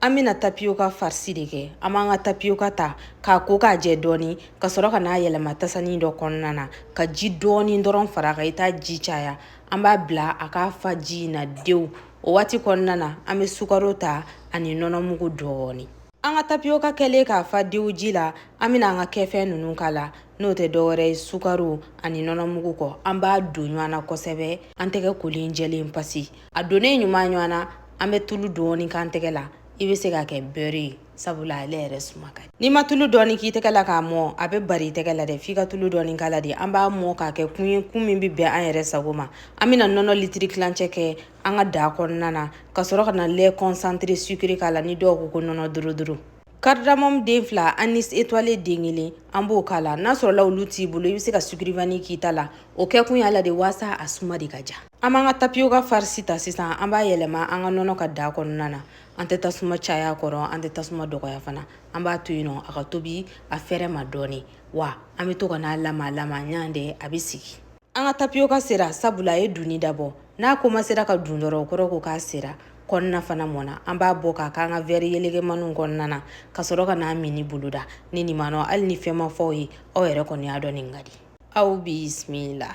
an bɛna tapiyoka farisi de kɛ an b'an ka tapiyoka ta k'a ko k'a jɛ dɔɔni ka sɔrɔ ka n'a yɛlɛma tasani dɔ kɔnɔna na ka ji dɔɔni dɔrɔn far'a kan i t'a ji caya an b'a bila a k'a fa ji in na dew o waati kɔnɔna na an bɛ sukaro ta ani nɔnɔmugu dɔɔni an ka tapiyoka kɛlen k'a fa dew ji la an bɛna an ka kɛfɛn ninnu k'a la n'o tɛ dɔwɛrɛ ye sukaro ani nɔnɔmugu kɔ an b'a don ɲɔgɔn na kosɛbɛ an tɛgɛ kolen jɛlen pasi a donnen ɲuman ɲɔgɔn na an bɛ tulu dɔɔni k'an tɛgɛ la i bɛ se k'a kɛ bɛri ye sabula ale yɛrɛ suma ka n'i ma tulu dɔɔni k'i tɛgɛ la k'a mɔ a bɛ bari i tɛgɛ la dɛ f'i ka tulu dɔɔni k'a la de an b'a mɔ k'a kɛ kun ye kun min bɛ bɛn an yɛrɛ sago ma an bɛna nɔnɔ litiri tilancɛ kɛ an ka daa kɔnɔna na ka sɔrɔ ka na lait concentré sucré k'a la ni dɔw ko ko nɔnɔ dorodoro cardamom den fila anis étoilé den kelen an b'o k'a la n'a sɔrɔla olu t'i bolo i bɛ se ka sucre vanille k'i ta la o kɛkun y'a la de waasa a suma de ka diya An b'an ka tapiyoka farisi ta sisan an b'a yɛlɛma an ka nɔnɔ kan daa kɔnɔna na an tɛ tasuma cay'a kɔrɔ an tɛ tasuma dɔgɔya fana an b'a to yen nɔ a ka tobi a fɛrɛ ma dɔɔni wa an bɛ to ka n'a lama lama ɲantɛ a bɛ sigi an ka tapiyoka sera sabula a ye dunni dabɔ n'a komansera ka dun dɔrɔn o kɔrɔ ko k'a sera kɔnɔna fana mɔna an b'a bɔ k'a k'an ka wɛri yelegemaniw kɔnɔna na ka sɔrɔ ka n'a mini boloda ni nin manɔ hali ni fɛn ma f'aw ye aw yɛrɛ kɔni y'a dɔn nin ka di aw bisimila